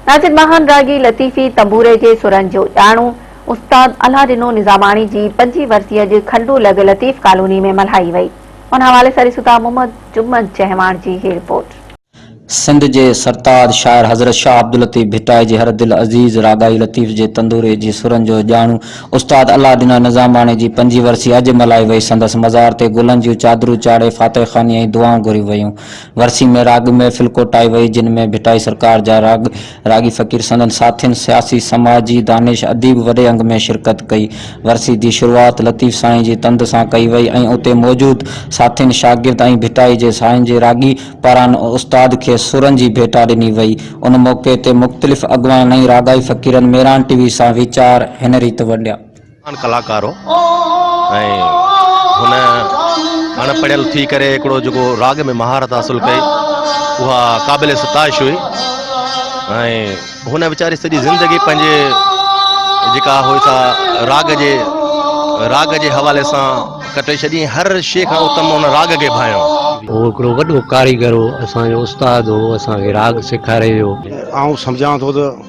ناصر ماهان راڳي لطيفي تنبوري جي سرن جو ڄاڻو استاد الهه ڏنو نظاماڻي جي پنجين ورسي اڄ کنڊو لڳ لطيف ڪالوني ۾ ملهائي وئي ان حوالي سان ڏسون ٿا محمد جمن چهواڻ جي هي رپورٽ. سنڌ جي سرتاج شاعر حضرت شاهه عبداللطيف ڀٽائي جي هر دل عزيز راڳائي لطيف جي تندوري جي سرن جو ڄاڻو استاد الهه ڏنو نظاماڻي جي پنجين ورسي اڄ ملهائي وئي سندس مزار تي گلن جون چادرون چاڙهي فاتح خواني ۽ دعائون گهريون ويون ورسي ۾ راڳ محفل ڪوٺائي وئي، جن ۾ ڀٽائي سرڪار جا راڳ، راڳي فقير سندن ساٿين، سياسي، سماجي، دانش، اديب وڏي انگ ۾ شرڪت ڪئي. ورسي جي شروعات لطيف سائين جي تند سان ڪئي وئي ۽ اتي موجود ساٿين، شاگرد ۽ ڀٽائي جي سائين جي راڳي پاران استاد کي سرن جي ڀيٽا ڏني وئي. ان موقعي تي مختلف اڳواڻن ۽ راڳائي فقيرن ميران ٽي وي سان ويچار هن ريت ونڊيا. مهان ڪلاڪار هو ۽ هن اڻ پڙهيل ٿي ڪري هڪڙو جيڪو راڳ ۾ مهارت حاصل ڪئي اها قابل ستائش هئي ۽ هن ويچاري سڄي زندگي پنهنجي جيڪا هئي سا راڳ جي راڳ جي حوالي سان ڪٽي ڇڏي هر شيء کان اتم هن راڳ کي ڀانيو هو هڪڙو وڏو ڪاريگر هو اسان جو استاد هو اسان کي راڳ سيکاري ويو آئون سمجهان ٿو ته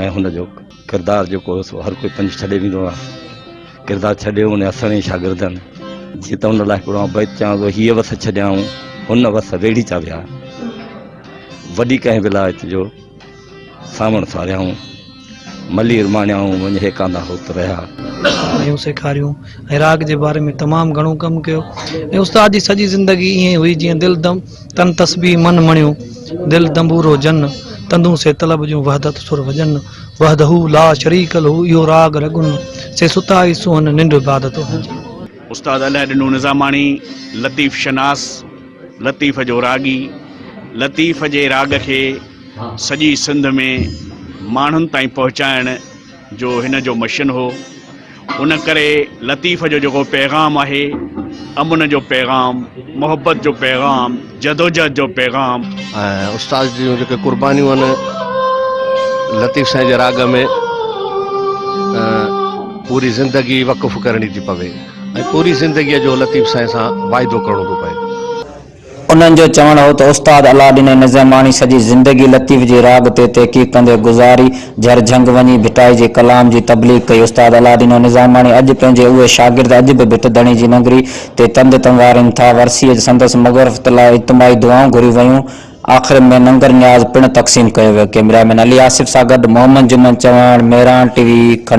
۽ هن جو ڪردار جيڪو هو سو هر ڪوئي پنهنجو ڇڏي ويندو آهي ڪردار ڇڏي ان جا سوين شاگردن جي ته ان لاء هڪڙو آئون بيت چيان ٿو هيء وس ڇڏيائون هن وس ويڙهي چا ويا وڏي ڪنهن ولايت جو ساوڻ ساريائون ملير ماڻيائون وڃ هي ڪاندا هوت رهيا ۽ سيکاريون ۽ راڳ جي باري ۾ تمام گهڻو ڪم ڪيو ۽ استاد جي سڄي زندگي ائين هئي جيئن دل دم تن تسبيح من مڻيو، دل دنبورو جن، تندون سي طلب جون وحدت سر وڄن، وحده لا شريڪ له اهو راڳ رڳن، سي ستا ئي سونهن ننڊ عبادت اهنجن. استاد الهه ڏنو نظاماڻي لطيف شناس لطيف جو راڳي لطيف جي راڳ کي سڄي سنڌ ۾ ماڻهن تائين پهچائڻ جو هن جو مشن هو ان ڪري لطيف جو جيڪو پيغام آهي امن جو پيغام محبت جو پيغام جدوجهد جو پيغام ۽ استاد جون جيڪي قربانيون آهن لطيف سائين جي راڳ ۾ پوري زندگي وقف ڪرڻي ٿي پوي ۽ پوري زندگيء جو لطيف سائين سان واعدو ڪرڻو ٿو پوي انهن جو چوڻ هو ته استاد علاء ڏين ۽ نظيماڻي سڄي زندگي لطيف جي راڳ تي تحقيق ڪندي گذاري، جهر جهنگ وڃي ڀٽائي جي ڪلام جي تبليغ ڪئي. استاد علاء ڏين ۽ نظيماڻي اڄ پنهنجي اهي شاگرد اڄ به ڀٽ ڌڻي جي ننگري تي تند تنوارين ٿا. ورسيء جي سندس مغفرت لاء اجتماعي دعائون گهريون ويون. آخر ۾ ننگر نياز پڻ تقسيم ڪيو ويو. ڪئميرا مين علي آصف سان گڏ محمد جمن چوهاڻ، مهراڻ ٽي وي، کنڊوا.